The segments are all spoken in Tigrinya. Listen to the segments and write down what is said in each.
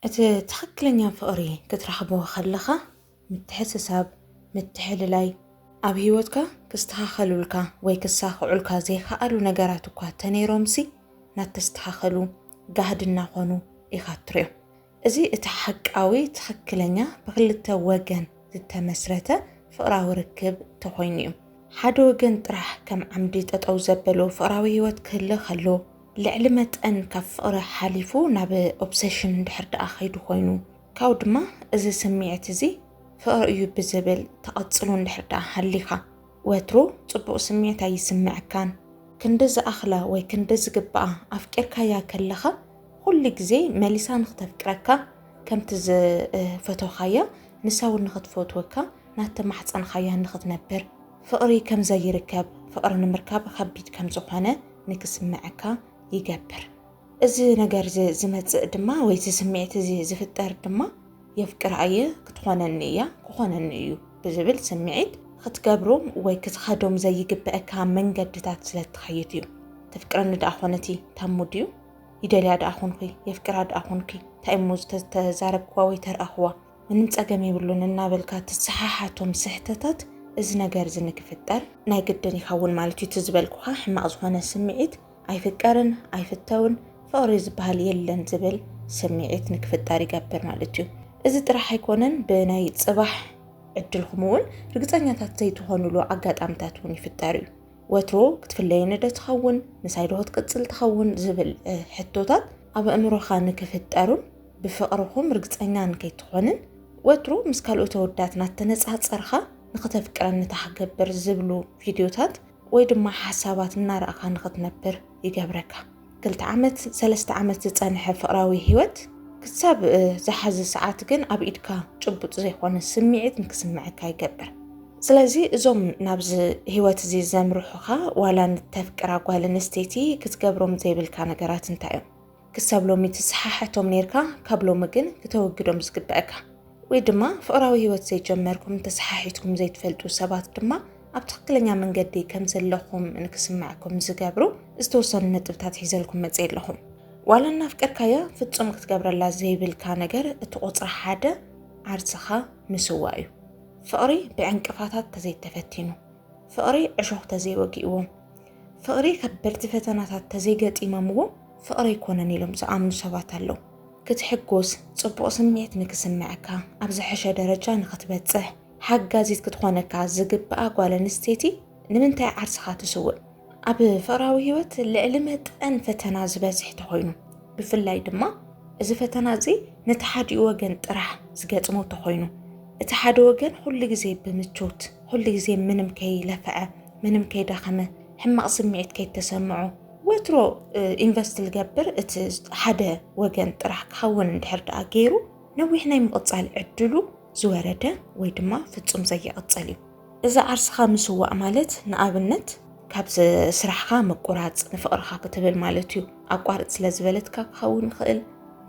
እቲ ትኽክለኛ ፍቕሪ ክትረኽቦ ከለኻ ምትሕስሳብ፣ ምትሕልላይ፣ ኣብ ህይወትካ ክስተኻኸሉልካ ወይ ክሳኽዑልካ ዘይከኣሉ ነገራት እኳ ተነይሮምሲ ናተስተኻኸሉ ጋህዲ እናኾኑ ኢኻ እትሪኦም። እዚ እቲ ሓቃዊ ትኽክለኛ ብክልተ ወገን ዝተመስረተ ፍቕራዊ ርክብ ተኾይኑ እዩ። ሓደ ወገን ጥራሕ ከም ዓምዲ ጠጠው ዘበሎ ፍቕራዊ ህይወት ክህልኽ ኣሎ። ልዕሊ መጠን ካብ ፍቕሪ ሓሊፉ ናብ ኦብሰሽን እንድሕር ደኣ ከይዱ ኮይኑ ካብኡ ድማ እዚ ስምዒት እዚ ፍቕሪ እዩ ብዝብል ተቐጽሎ እንድሕር ደኣ ሃሊኻ ወትሩ ጽቡቕ ስምዒት ኣይስምዐካን። ክንዲ ዝኣኽላ ወይ ክንዲ ዝግባኣ ኣፍቂርካያ ከለኻ ኩሉ ግዜ መሊሳ ንክተፍቅረካ ከምቲ ዝፈተውካያ ንሳ እውን ንክትፈትወካ ናተማሕጸንኻያ ንክትነብር ፍቕሪ ከም ዘይርከብ፣ ፍቕሪ ንምርካብ ኸቢድ ከም ዝዀነ ንኪስምዐካ ይገብር። እዚ ነገር እዚ ዚመጽእ ድማ ወይ እዚ ስምዒት እዚ ዚፍጠር ድማ የፍቅራ እየ፣ ክትዀነኒ እያ፣ ክዀነኒ እዩ ብዚብል ስምዒት ኽትገብሮም ወይ ክትኸዶም ዘይግበኣካ መንገድታት ስለ እትኸይድ እዩ። ተፍቅረኒ ደኣ ዀነቲ ታሙ ድዩ? ይደልያ ደኣ ዀንኩ? የፍቅራ ደኣ ዀንኩ? እንታይ እሞ ዝተዛረብክዋ ወይ ተርኣኽዋ? ምንም ጸገም የብሉን እናበልካ ትሰሓሓቶም ስሕተታት እዚ ነገር እዚ ንክፍጠር ናይ ግድን ይኸውን ማለት እዩ። እቲ ዝበልኩኻ ሕማቕ ዝኾነ ስምዒት ኣይፍቀርን፣ ኣይፍተውን፣ ፍቕሪ ዝበሃል የለን ዝብል ስምዒት ንክፍጠር ይገብር ማለት እዩ። እዚ ጥራሕ ኣይኮነን ብናይ ጽባሕ ዕድልኹም እውን ርግጸኛታት ዘይትኾኑሉ ኣጋጣምታት እውን ይፍጠር እዩ። ወትሮ ክትፍለየኒ ዶ ትኸውን ምሳይ ዶ ክትቅጽል ትኸውን ዝብል ሕቶታት ኣብ ኣእምሮኻ ንክፍጠሩን ብፍቕርኹም ርግጸኛ እንከይትኾንን ወትሩ ምስ ካልኦት ኣወዳት ናተነጻጸርካ ንክተፍቅረኒ ታክገብር ዝብሉ ቪድዮታት ወይ ድማ ሓሳባት እናረኣኻ ንክትነብር ይገብረካ። ክልተ ዓመት ሰለስተ ዓመት ዝጸንሐ ፍቕራዊ ህይወት ክሳብ ዝሓዚ ሰዓት ግን ኣብ ኢድካ ጭቡጥ ዘይኮነ ስምዒት ንክስምዐካ ይገብር። ስለዚ እዞም ናብዚ ህይወት እዚ ዘምርሑኻ ዋላ ንተፍቅራ ጓል ኣንስተይቲ ክትገብሮም ዘይብልካ ነገራት እንታይ እዮም? ክሳብ ሎሚ ትሰሓሕቶም ኔርካ ካብ ሎሚ ግን ክተወግዶም ዝግበኣካ ወይ ድማ ፍቕራዊ ህይወት ዘይጀመርኩም ተሰሓሒትኩም ዘይትፈልጡ ሰባት ድማ ኣብ ትኽክለኛ መንገዲ ከም ዘለኹም ንክስምዐኩም ዝገብሩ ዝተወሰኑ ነጥብታት ሒዘልኩም መፅእ ኣለኹም ዋላ እናፍቀርካያ ፍፁም ክትገብረላ ዘይብልካ ነገር እቲ ቁፅሪ ሓደ ዓርሰኻ ምስዋ እዩ ፍቕሪ ብዕንቅፋታት ተዘይተፈቲኑ ፍቕሪ ዕሾኽ ተዘይወጊእዎ፣ ፍቕሪ ከበድቲ ፈተናታት ተዘይገጢሞምዎ ፍቕሪ ኣይኮነን ኢሎም ዝኣምኑ ሰባት ኣለዉ። ክትሕጎስ፣ ጽቡቕ ስምዒት ንክስመዐካ፣ ኣብ ዝሐሸ ደረጃ ንክትበጽሕ ሓጋዚት ክትኾነካ ዝግብኣ ጓል ኣንስተይቲ ንምንታይ ዓርስኻ ትስውእ? ኣብ ፍቕራዊ ህይወት ልዕሊ መጠን ፈተና ዝበዝሕ ተኾይኑ፣ ብፍላይ ድማ እዚ ፈተና እዚ ነቲ ሓዲኡ ወገን ጥራሕ ዝገጥሞ ተኾይኑ፣ እቲ ሓደ ወገን ኹሉ ግዜ ብምቾት ኹሉ ግዜ ምንም ከይለፈዐ ምንም ከይደኸመ ሕማቕ ስምዒት ከይተሰምዖ ወትሮ ኢንቨስት ዝገብር እቲ ሓደ ወገን ጥራሕ ክኸውን እንድሕር ደኣ ገይሩ ነዊሕ ናይ ምቕጻል ዕድሉ ዝወረደ ወይ ድማ ፍጹም ዘይቕጽል እዩ እዚ ዓርስኻ ምስዋእ ማለት ንኣብነት ካብ ስራሕኻ ምቁራጽ ንፍቕርኻ ክትብል ማለት እዩ ኣቋርጽ ስለ ዝበለትካ ክኸውን ይኽእል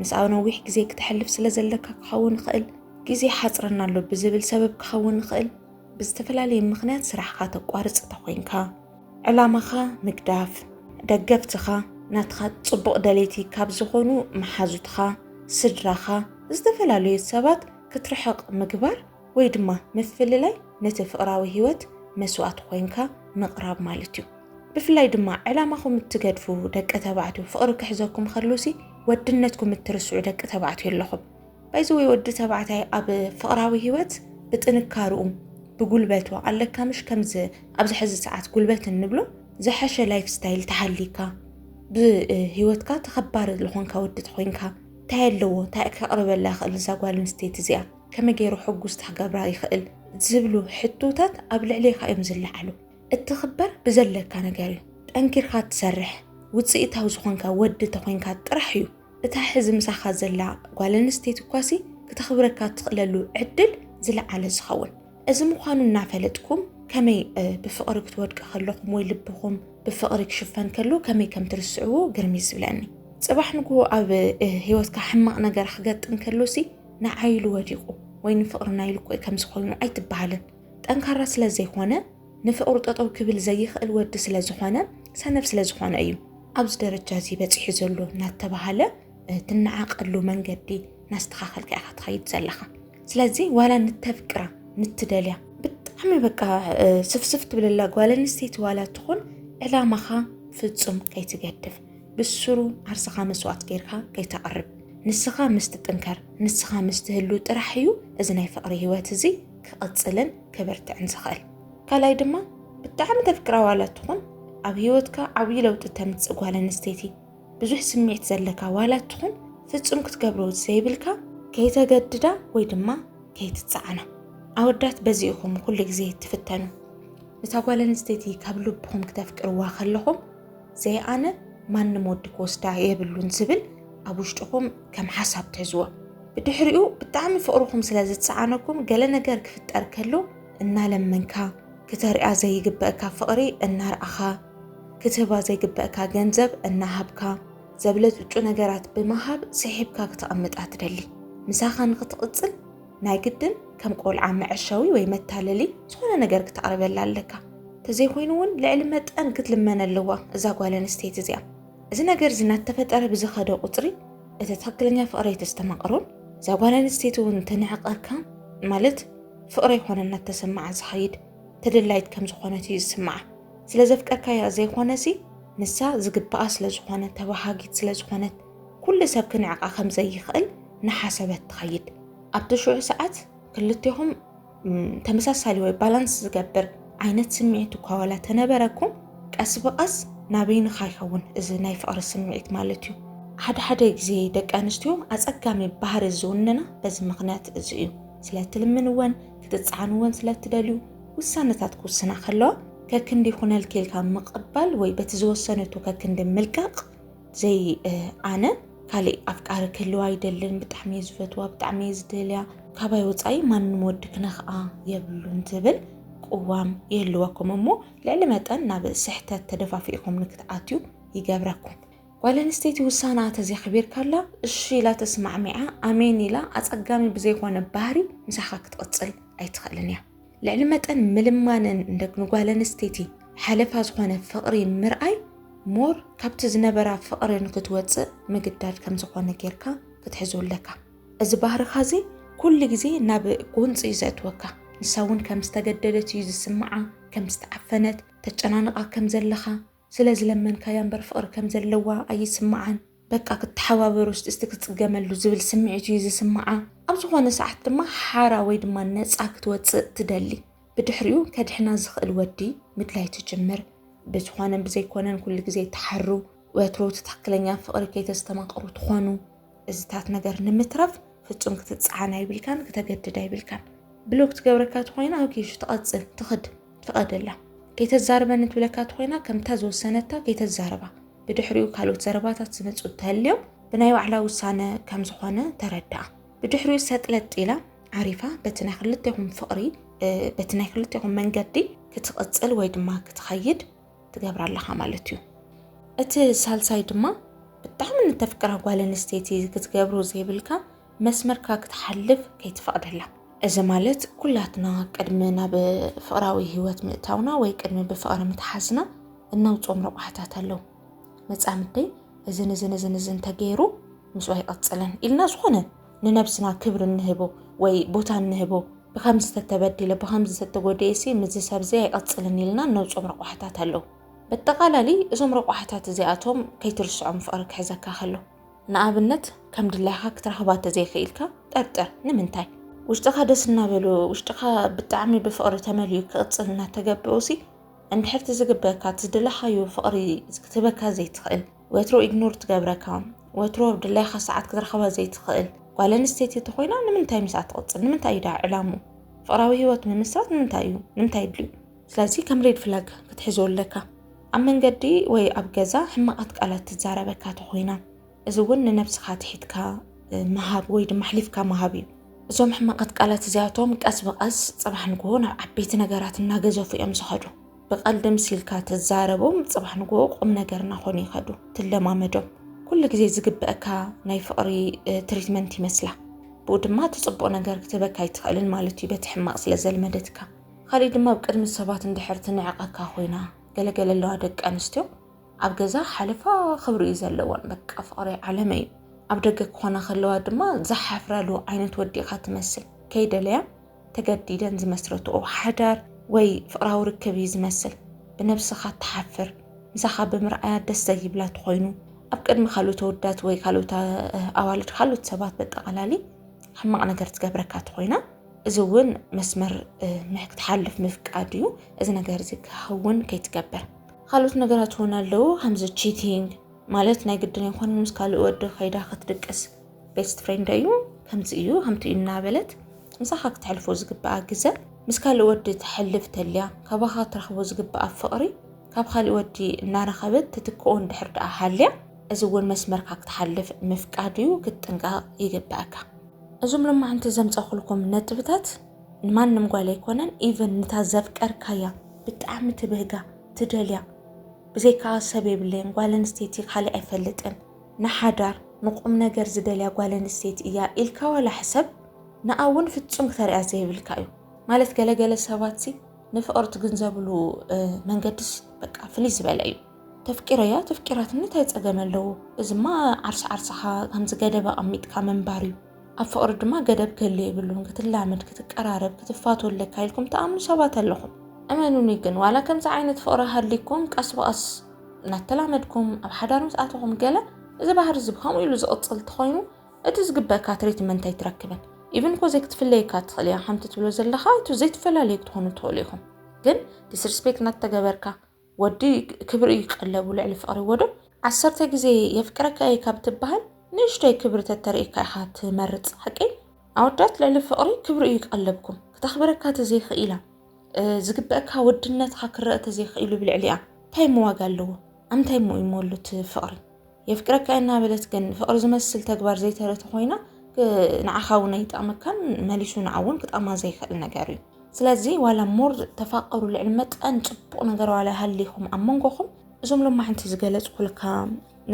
ምስኣ ነዊሕ ግዜ ክተሕልፍ ስለ ዘለካ ክኸውን ይኽእል ግዜ ይሓጽረና ኣሎ ብዝብል ሰበብ ክኸውን ይኽእል። ብዝተፈላለየ ምኽንያት ስራሕኻ ተቋርጽ እንተኾይንካ፣ ዕላማኻ ምግዳፍ፣ ደገፍትኻ፣ ናትኻ ጽቡቕ ደለይቲ ካብ ዝኾኑ መሓዙትኻ፣ ስድራኻ፣ ዝተፈላለዩ ሰባት ክትርሕቕ ምግባር ወይ ድማ ምፍልላይ ነቲ ፍቕራዊ ህይወት መስዋእቲ ኮይንካ ምቕራብ ማለት እዩ። ብፍላይ ድማ ዕላማኹም እትገድፉ ደቂ ተባዕትዮ ፍቕሪ ክሕዘኩም ከሎሲ ወድነትኩም እትርስዑ ደቂ ተባዕትዮ ኣለኹም። ባይዘ ወይ ወዲ ተባዕታይ ኣብ ፍቕራዊ ህይወት ብጥንካርኡ ብጉልበቱ ኣለካ ምሽ ከምዚ ኣብዚ ሕዚ ሰዓት ጉልበት እንብሎ ዝሐሸ ላይፍ ስታይል ተሃሊካ ብህይወትካ ተኸባሪ ዝኾንካ ወዲ ተኾይንካ እንታይ ኣለዎ እንታይ ከቕርበላ ይኽእል እዛ ጓል ኣንስተይቲ እዚኣ ከመይ ገይሩ ሕጉስቲ ክገብራ ይኽእል ዝብሉ ሕቶታት ኣብ ልዕሌካ እዮም ዝለዓሉ እትኽበር ብዘለካ ነገር እዩ ጠንኪርካ ትሰርሕ ውፅኢታዊ ዝኾንካ ወዲ ተኾይንካ ጥራሕ እዩ እታ ሕዚ ምሳኻ ዘላ ጓል ኣንስተይቲ እኳሲ ክተኽብረካ እትኽእለሉ ዕድል ዝለዓለ ዝኸውን እዚ ምዃኑ እናፈለጥኩም ከመይ ብፍቕሪ ክትወድቂ ከለኹም ወይ ልብኹም ብፍቕሪ ክሽፈን ከሎ ከመይ ከም ትርስዕዎ ግርሚ ዝብለኒ ጽባሕ ንግሆ ኣብ ህይወትካ ሕማቕ ነገር ክገጥም ከሎሲ ንዓይ ኢሉ ወዲቑ ወይ ንፍቕርና ኢሉ እኮ ከምዚ ኮይኑ ኣይትበሃልን ጠንካራ ስለ ዘይኮነ ንፍቕሩ ጠጠው ክብል ዘይኽእል ወዲ ስለ ዝኾነ ሰነፍ ስለ ዝኾነ እዩ ኣብዚ ደረጃ እዚ በፂሑ ዘሎ እናተባሃለ ትነዓቐሉ መንገዲ ናስተኻኸልካ ኢኻ ትኸይድ ዘለኻ ስለዚ ዋላ ንተፍቅራ ንትደልያ ብጣዕሚ በቃ ስፍስፍ ትብለላ ጓል ኣንስተይቲ ዋላ ትኹን ዕላማኻ ፍጹም ከይትገድፍ ብስሩ ዓርስኻ መስዋእት ጌርካ ከይተቕርብ ንስኻ ምስ ትጥንከር ንስኻ ምስ ትህሉ ጥራሕ እዩ እዚ ናይ ፍቕሪ ህይወት እዚ ክቕጽልን ክብርትዕን ዝኽእል። ካልኣይ ድማ ብጣዕሚ ተፍቅራ ዋላ ትኹን ኣብ ህይወትካ ዓብዪ ለውጢ ተምጽእ ጓል ኣንስተይቲ ብዙሕ ስምዒት ዘለካ ዋላ ትኹን ፍጹም ክትገብሮ ዘይብልካ ከይተገድዳ ወይ ድማ ከይትጸዓና። ኣወዳት በዚ ኢኹም ኩሉ ግዜ ትፍተኑ። እታ ጓል ኣንስተይቲ ካብ ልብኹም ክተፍቅርዋ ከለኹም ዘይ ኣነ ማንም ወዲ ክወስዳ የብሉን ዝብል ኣብ ውሽጥኹም ከም ሓሳብ ትሕዝዎ። ብድሕሪኡ ብጣዕሚ ፍቕርኹም ስለ ዝጸዓነኩም ገለ ነገር ክፍጠር ከሎ እናለመንካ ክተርያ ዘይግበእካ ፍቕሪ እናርኣኻ ክትህባ ዘይግበእካ ገንዘብ እናሃብካ ዘብለጭልጩ ነገራት ብምሃብ ስሒብካ ክተቐምጣ ትደሊ ምሳኻ ንክትቕጽል ናይ ግድን ከም ቆልዓ መዐሸዊ ወይ መታለሊ ዝኾነ ነገር ክተቕርበላ ኣለካ ተዘይኮይኑ እውን ልዕሊ መጠን ክትልመነ ኣለዋ እዛ ጓል ኣንስተይቲ እዚኣ እዚ ነገር እዚ እናተፈጠረ ብዝኸደ ቁፅሪ እቲ ትኽክለኛ ፍቕረይ ተስተማቕሮን እዛ ጓል ኣንስተይቲ እውን ተንዕቐካ ማለት ፍቕረ ይኮነ እናተሰማዓ ዝኸይድ ተደላይት ከም ዝኾነት እዩ ዝስምዓ ስለ ዘፍቀርካያ ዘይኮነሲ ንሳ ዝግባኣ ስለ ዝኾነ ተባሃጊት ስለ ዝኾነት ኩሉ ሰብ ክንዕቃ ከም ዘይኽእል ናሓሰበት ትኸይድ። ኣብቲ ሽዑ ሰዓት ክልቴኹም ተመሳሳሊ ወይ ባላንስ ዝገብር ዓይነት ስምዒት እኳ ዋላ ተነበረኩም ቀስ ብቀስ ናበይንኻ ይኸውን እዚ ናይ ፍቕሪ ስምዒት ማለት እዩ። ሓደ ሓደ ግዜ ደቂ ኣንስትዮ ኣጸጋሚ ባህሪ ዝውንና በዚ ምኽንያት እዚ እዩ። ስለ እትልምንወን ክትጸዓንወን ስለ እትደልዩ ውሳነታት ክውስና ከለዋ ከክንዲ ይኹነልኪ ኢልካ ምቕባል ወይ በቲ ዝወሰነቶ ከክንዲ ምልቃቕ ዘይ ኣነ ካሊእ ኣፍቃሪ ክህልዋ ኣይደልን ብጣዕሚ እየ ዝፈትዋ ብጣዕሚ እየ ዝደልያ ካባይ ወፃኢ ማንም ወዲ ክነክኣ የብሉን ትብል ቅዋም ይህልወኩም እሞ ልዕሊ መጠን ናብ ስሕተት ተደፋፊእኹም ንክትኣትዩ ይገብረኩም ጓል ኣንስተይቲ ውሳና ተዘኽቢርካላ እሺ ኢላ ተስማዕሚዓ ኣሜን ኢላ ኣጸጋሚ ብዘይኮነ ባህሪ ምሳኻ ክትቕጽል ኣይትኽእልን እያ ልዕሊ መጠን ምልማንን ንጓል ኣንስተይቲ ሓለፋ ዝኾነ ፍቕሪ ምርኣይ ሞር ካብቲ ዝነበራ ፍቕሪ ንክትወፅእ ምግዳድ ከም ዝኾነ ጌርካ ክትሕዞ ኣለካ። እዚ ባህርኻ እዚ ኩሉ ግዜ ናብ ጎንፂ እዩ ዘእትወካ። ንሳ እውን ከም ዝተገደደት እዩ ዝስምዓ፣ ከም ዝተዓፈነት፣ ተጨናንቓ ከም ዘለኻ፣ ስለ ዝለመንካያ እምበር ፍቅሪ ከም ዘለዋ ኣይስምዓን በቃ ክትሓባበሩ እስቲ ክትጽገመሉ ዝብል ስምዒት እዩ ዝስምዓ ኣብ ዝኾነ ሰዓት ድማ ሓራ ወይ ድማ ነጻ ክትወጽእ ትደሊ ብድሕሪኡ ከድሕና ዝኽእል ወዲ ምድላይ ትጅምር ብዝኾነን ብዘይኮነን ኩሉ ግዜ ትሓሩ ወትሩ ትትክክለኛ ፍቅሪ ከይተስተማቅሩ ትኾኑ እዚታት ነገር ንምትራፍ ፍጹም ክትጸዓን ኣይብልካን ክተገድድ ኣይብልካን ብሎክ ትገብረካ ትኮይና ኣኪሹ ትቐጽል ትኽድ ፍቐደላ ከይተዛርበኒ ትብለካ ትኮይና ከምታ ዝወሰነታ ከይተዛረባ ብድሕሪኡ ካልኦት ዘረባታት ዝመፁ እተህልዮም ብናይ ባዕላ ውሳነ ከም ዝኾነ ተረድኣ ብድሕሪኡ ሰጥለጥ ኢላ ዓሪፋ በቲ ናይ ክልቴኹም ፍቕሪ በቲ ናይ ክልቴኹም መንገዲ ክትቕፅል ወይ ድማ ክትኸይድ ትገብራ ኣለኻ ማለት እዩ እቲ ሳልሳይ ድማ ብጣዕሚ ንተፍቅራ ጓል ኣንስተይቲ ክትገብሮ ዘይብልካ መስመርካ ክትሓልፍ ከይትፈቕደላ እዚ ማለት ኩላትና ቅድሚ ናብ ፍቕራዊ ህይወት ምእታውና ወይ ቅድሚ ብፍቕሪ ምትሓዝና እነውፅኦም ረቋሕታት ኣለዉ መፃምደይ እዝን እዝን እዝን እዝን ተገይሩ ምስኡ ኣይቐፅልን ኢልና ዝኾነ ንነብስና ክብሪ እንህቦ ወይ ቦታ እንህቦ ብከምዚ ተተበዲለ ብከምዚ ተተጎዲኤሲ ምዚ ሰብዚ ኣይቐፅልን ኢልና እነውፅኦም ረቋሕታት ኣለዉ በጠቓላሊ እዞም ረቋሕታት እዚኣቶም ከይትርስዖም ፍቕሪ ክሕዘካ ከሎ ንኣብነት ከም ድላይካ ክትረኽባ ተዘይክኢልካ ጠርጥር ንምንታይ ውሽጥኻ ደስ እናበሎ ውሽጥኻ ብጣዕሚ ብፍቕሪ ተመልዩ ክቕፅል እናተገብኦሲ እንድሕርቲ ዝግበካ ትዝደለኻዮ ፍቕሪ ክትበካ ዘይትኽእል ወትሮ ኢግኖር ትገብረካ ወትሮ ድላይካ ሰዓት ክትረኽባ ዘይትኽእል ጓል ኣንስተይቲ እንተኾይና ንምንታይ ምስኣ ትቕፅል ንምንታይ እዩ ዳ ዕላሙ ፍቕራዊ ህይወት ምምስራት ንምንታይ እዩ ንምንታይ ይድልዩ ስለዚ ከም ሬድ ፍላግ ክትሕዞ ኣለካ ኣብ መንገዲ ወይ ኣብ ገዛ ሕማቓት ቃላት ትዛረበካ ተኾይና እዚ እውን ንነብስኻ ትሒትካ ምሃብ ወይ ድማ ኣሕሊፍካ ምሃብ እዩ እዞም ሕማቓት ቃላት እዚኣቶም ቀስ ብቐስ ፅባሕ ንግሆ ናብ ዓበይቲ ነገራት እናገዘፉ እዮም ዝኸዱ ብቀልዲ ምሲልካ ትዛረቦም ጽባሕ ንግሆ ቁም ነገር ናኾኑ ይኸዱ ትለማመዶም ኩሉ ግዜ ዝግበእካ ናይ ፍቅሪ ትሪትመንት ይመስላ ብኡ ድማ እቲ ጽቡቅ ነገር ክትህበካ ኣይትኽእልን ማለት እዩ በቲ ሕማቅ ስለ ዘልመደትካ ካሊእ ድማ ኣብ ቅድሚ ሰባት እንድሕር ትንዕቀካ ኮይና ገለገለ ኣለዋ ደቂ ኣንስትዮ ኣብ ገዛ ሓለፋ ክብሪ እዩ ዘለወን በቃ ፍቅሪ ዓለመ እዩ ኣብ ደገ ክኾና ከለዋ ድማ ዝሓፍራሉ ዓይነት ወዲ ኢኻ ትመስል ከይደለያ ተገዲደን ዝመስረትኦ ሓዳር ወይ ፍቕራዊ ርክብ እዩ ዝመስል። ብነብስኻ ትሓፍር፣ ምሳኻ ብምርኣያ ደስ ዘይብላ ትኾይኑ፣ ኣብ ቅድሚ ካልኦት ኣወዳት ወይ ካልኦት ኣዋልድ ካልኦት ሰባት በጠቓላሊ ሕማቕ ነገር ትገብረካ ትኾይና እዚ እውን መስመር ክትሓልፍ ምፍቃድ እዩ እዚ ነገር እዚ ክኸውን ከይትገብር ካልኦት ነገራት እውን ኣለዉ ከምዚ ቺቲንግ ማለት ናይ ግድን ይኮነ ምስ ካልእ ወዲ ከይዳ ክትድቅስ ቤስት ፍሬንደይ እዩ ከምዚ እዩ ከምቲ እዩ እናበለት ምሳኻ ክተሕልፎ ዝግብኣ ግዘ ምስ ካልእ ወዲ ተሕልፍ ተልያ ካባኻ ክትረኽቦ ዝግብኣ ፍቕሪ ካብ ካልእ ወዲ እናረኸበት ትትክኦ እንድሕር ደኣ ሃልያ እዚ እውን መስመርካ ክትሓልፍ ምፍቃድ እዩ ክትጥንቀቕ ይግብኣካ። እዞም ሎማዕንቲ ዘምጸኹልኩም ነጥብታት ንማንም ጓል ኣይኮነን ኢቨን ንታ ዘፍቀርካያ ብጣዕሚ ትብህጋ ትደልያ ብዘይካ ሰብ የብለይን ጓል ኣንስተይቲ ካልእ ኣይፈልጥን ንሓዳር ንቁምነገር ዝደልያ ጓል ኣንስተይቲ እያ ኢልካ ዋላ ሕሰብ ንኣ እውን ፍፁም ክተርያ ዘይብልካ እዩ ማለት ገለ ገለ ሰባት ሲ ንፍቕሪ ትግንዘብሉ መንገድስ በቃ ፍልይ ዝበለ እዩ ተፍቂረያ ተፍቂራትኒ እንታይ ፀገም ኣለዎ እዚማ ዓርሲ ዓርስኻ ከምዚ ገደብ ኣቐሚጥካ ምንባር እዩ ኣብ ፍቕሪ ድማ ገደብ ክህሉ የብሉን ክትላመድ ክትቀራረብ ክትፋቱ ኣለካ ኢልኩም ትኣምኑ ሰባት ኣለኹም እመኑኒ ግን ዋላ ከምዚ ዓይነት ፍቕሪ ሃሊኩም ቀስ ብቐስ እናተላመድኩም ኣብ ሓዳር ምስ ኣተኹም ገለ እዚ ባህሪ እዚ ብከምኡ ኢሉ ዝቕጽል እንተኾይኑ እቲ ዝግበእካ ትሪትመንት ኣይትረክብን ኢቭን ኮዘይ ክትፍለየካ ትኽእል እያ ከምቲ ትብሎ ዘለኻ እቲ ዘይትፈላለዩ ክትኾኑ ትኽእሉ ኢኹም ግን ዲስርስፔክት እናተገበርካ ወዲ ክብሪ እዩ ቀለቡ ልዕሊ ፍቕሪ ወዶ ዓሰርተ ግዜ የፍቅረካ እየ ካብ ትበሃል ንእሽቶይ ክብሪ ተተርእካ ኢኻ ትመርጽ ሓቂ ኣወዳት ልዕሊ ፍቕሪ ክብሪ እዩ ቀለብኩም ክተኽብረካ ተዘይኽኢላ ዝግበእካ ወድነትካ ክረእ ተዘይክኢሉ ብልዕሊኣ እንታይ እሞ ዋጋ ኣለዎ ኣምታይ እሞ እዩ ሞሉ እቲ ፍቕሪ የፍቅረካ እናበለት ግን ፍቕሪ ዝመስል ተግባር ዘይተረቲ ኮይና ንዓኻ እውን ኣይጠቕመካን መሊሱ ንዓ እውን ክጠቕማ ዘይክእል ነገር እዩ ስለዚ ዋላ ሞር ተፋቀሩ ልዕሊ መጠን ፅቡቕ ነገር ዋላ ሃሊኹም ኣብ መንጎኹም እዞም ሎማ ሓንቲ ዝገለፅኩልካ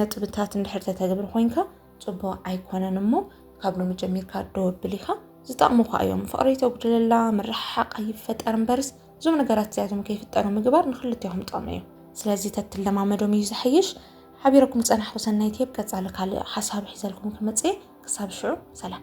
ነጥብታት እንድሕር ተተግብር ኮይንካ ፅቡቅ ኣይኮነን እሞ ካብ ሎሚ ጀሚርካ ዶ ኣብል ኢኻ ዝጠቕሙኻ እዮም ፍቕሪ ተጉድለላ ምርሕሓቕ ኣይፈጠር እምበርስ እዞም ነገራት እዚኣቶም ከይፍጠሩ ምግባር ንክልቴኹም ጥቕሚ እዩ ስለዚ ተትለማመዶም እዩ ዝሐይሽ ሓቢረኩም ዝፀናሕኹ ሰናይት እየ ብቀፃሊ ካልእ ሓሳብ ሒዘልኩም ክመፅእ እየ ክሳብ ሽዑ ሰላም